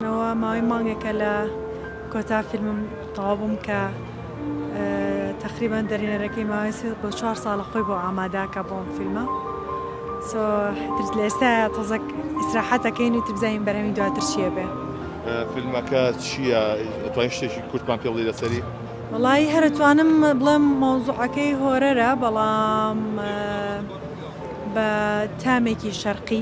نەوە ماوەی مانگێکە لە کۆتا فیلمم تەواو بووم کە تەقریبەن دەرینەرەکەی ماوەی سێ بۆ چوار ساڵە خۆی بۆ ئاماداکە بۆم فیلمە سۆ ترس لە ئێستا تەزەک ئیسراحەتەکەین و تبزانین بەرەمی دواتر چیە بێ فیلمەکە چییە توای شتێکی کورتمان پێ بڵی لەسەری وڵی هەرتوانم بڵێم مۆزوعەکەی هۆرەرە بەڵام بە تامێکی شەرقی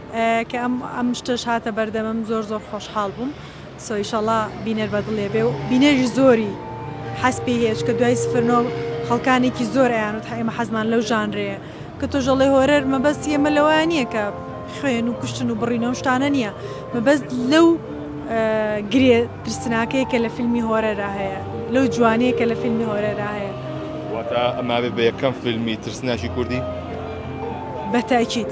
کە ئەم ئەم شتەش هاتە بەردەمم زۆر زۆر خۆشحاڵ بووم سۆ ئیشەڵا بینەر بەدڵێ بێ و بینەری زۆری حەز پێی هەیە چکە دوای سفر نۆ خەڵکانێکی زۆر ئەیانوت ئێمە حەزمان لەو ژانرەیە کە تۆش ئەڵێ هۆرەر مەبەست ئێمە لەوەیان نییە کە خوێن و کوشتن و بڕینە و شتانە نییە مەبەست لەو گرێ ترسناکەی کە لە فیلمی هۆرەرا هەیە لەو جوانەیە کە لە فیلمی هۆرەرا هەیە واتە ئەمابێ بە یەکەم فیلمی ترسناکی کوردی؟ بە تەئکید.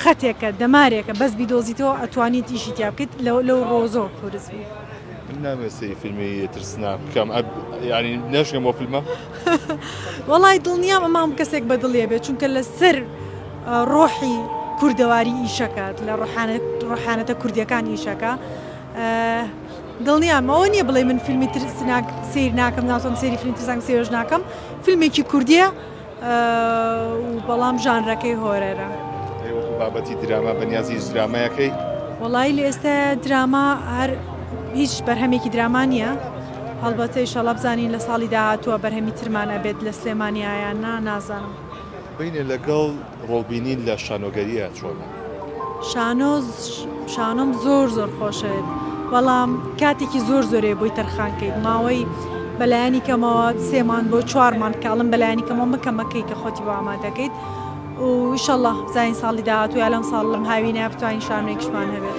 خەتێکە دەمارێکە بەس بیدۆزیتەوە ئەتوانیت ئیشی تیا بکەیت لەو ڕۆ زۆر قورس بوو. من نامێ سەی فیلمی ترسناک بکەم ینی نەشگەم بۆ فیلمە وەڵی دڵنیام ئەمام کەسێک بە دڵێ بێت چونکە لەسەر ڕۆحی کوردەواری ئیشەکات لە ڕحانەتە کوردیەکان ئیشەکە دڵنیام ئەوە نییە بڵێ من فیلمی ترسناک سیر ناکەم ناوتم سری فیلم ترسنگ سێژ ناکەم فیلمێکی کوردیە و بەڵام ژانرەکەی هۆرەرە. ئەی وەکو بابەتی دراما بەنیازی هیچ درامایەکەی؟ وەڵایی لە ئێستا دراما هەر هیچ بەرهەمێکی دراما نییە هەڵبەتە ئیشەڵا بزانین لە ساڵی داهاتووە بەرهەمی ترمان ئەبێت لە سلێمانیا یان نا نازانم. بەینە لەگەڵ ڕۆڵ بینین لە شانۆگەرییە چۆنە؟ شانۆ شانۆم زۆر زۆر خۆشەوێت بەڵام کاتێکی زۆر زۆرێ بۆی تەرخان کەیت ماوەی بەلایانی کەمەوە سێمان بۆ چوارمان کاڵم بەلایانی کەمەوە مکەمەکەی کە خۆتی بۆ ئامادەکەیت وشەڵە زین ساڵی داهاتوو یا لەم ساڵ لەم هاوینە بتوانین شانێکشمان هەبێت.